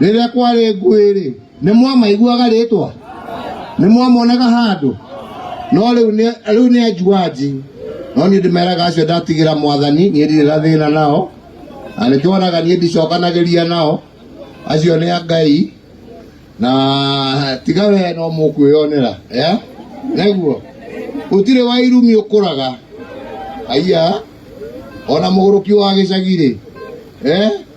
rĩrĩa kwarĩ ngũĩ-rĩ nĩ mwamaiguaga rĩtwa nĩ mwamonaga handũ no rĩu nĩ- rĩu nĩ anjuanji no niĩ ndĩmeraga acio ndatigĩra mwathani niĩ ndirĩ na thĩna nao na nĩkĩonaga niĩ ndicokanagĩria nao acio nĩ a ngai na tiga we no mũkwĩyonera eh? nĩguo gũtirĩ wa irumi ũkũraga aiya ona mũgũrũki wa gĩcagi-rĩ eh?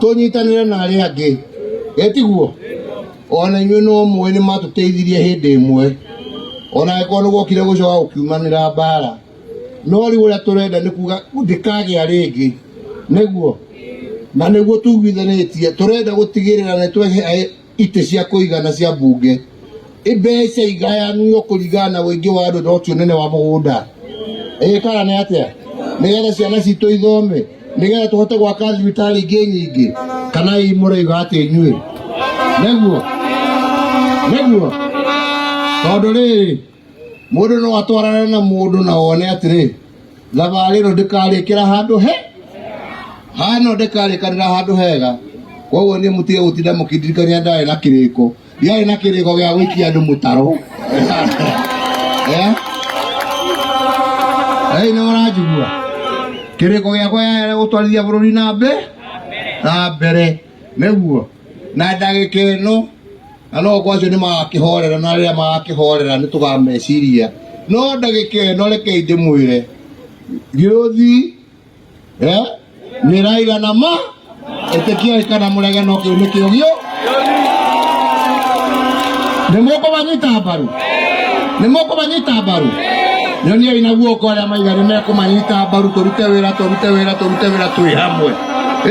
tũnyitanĩre na arĩa angĩ etiguo ona inyuĩ no mũĩ nĩ matũteithirie hĩndĩ ĩmwe ona angĩkorwo nĩ gwokire gũcoka gũkiumanĩra mbara no rĩu ũrĩa tũrenda nĩ kuga ndĩkagĩa rĩngĩ nĩguo na nĩguo tuiguithanĩtie tũrenda gũtigĩrĩra nĩ twehe itĩ cia kũigana cia mbunge imbeca igayanio kũringana na ũingĩ wa andũ no ti ũnene wa mũgũnda ĩĩ kana nĩ atĩa nĩgetha ciana citũ ithome nĩgetha tũhote gwaka thibitarĩ ingĩ nyingĩ kana ii mũraiga atĩ inyuĩ nĩguo nĩguo tondũ rĩrĩ Mũndũ no atwarane na mũndũ na one atĩrĩ thabarĩ ĩno ndĩkarĩkĩra handũ he hano ndĩkarĩkanĩra handũ hega koguo niĩ mũtige gũtinda mũkĩndirikania ndarĩ na kĩrĩko ndiarĩ na kĩrĩko gĩa gũikia andũ mũtaro Eh? Ei, nĩ mũranjigua kĩrĩko gĩakwa yarĩ gũtwarithia bũrũri na mbere na mbere nĩguo na ndagĩka ĩno na no kwa acio nĩ magakĩhorera na rĩrĩa magakĩhorera nĩ tũgameciria no ndagĩka ĩno rekei ndĩmwĩre gĩũthi eh, mĩraiga na ma ĩtĩkiai kana mũrege no kĩu nĩ kĩo gĩo nĩ mũkũmanyita mbaru nĩ mũkũmanyita mbaru nyoniai na guoko arĩa maigari mekũmanyita mbaru tũrute wĩra tũrute wĩra tũrute wĩra twĩ hamwe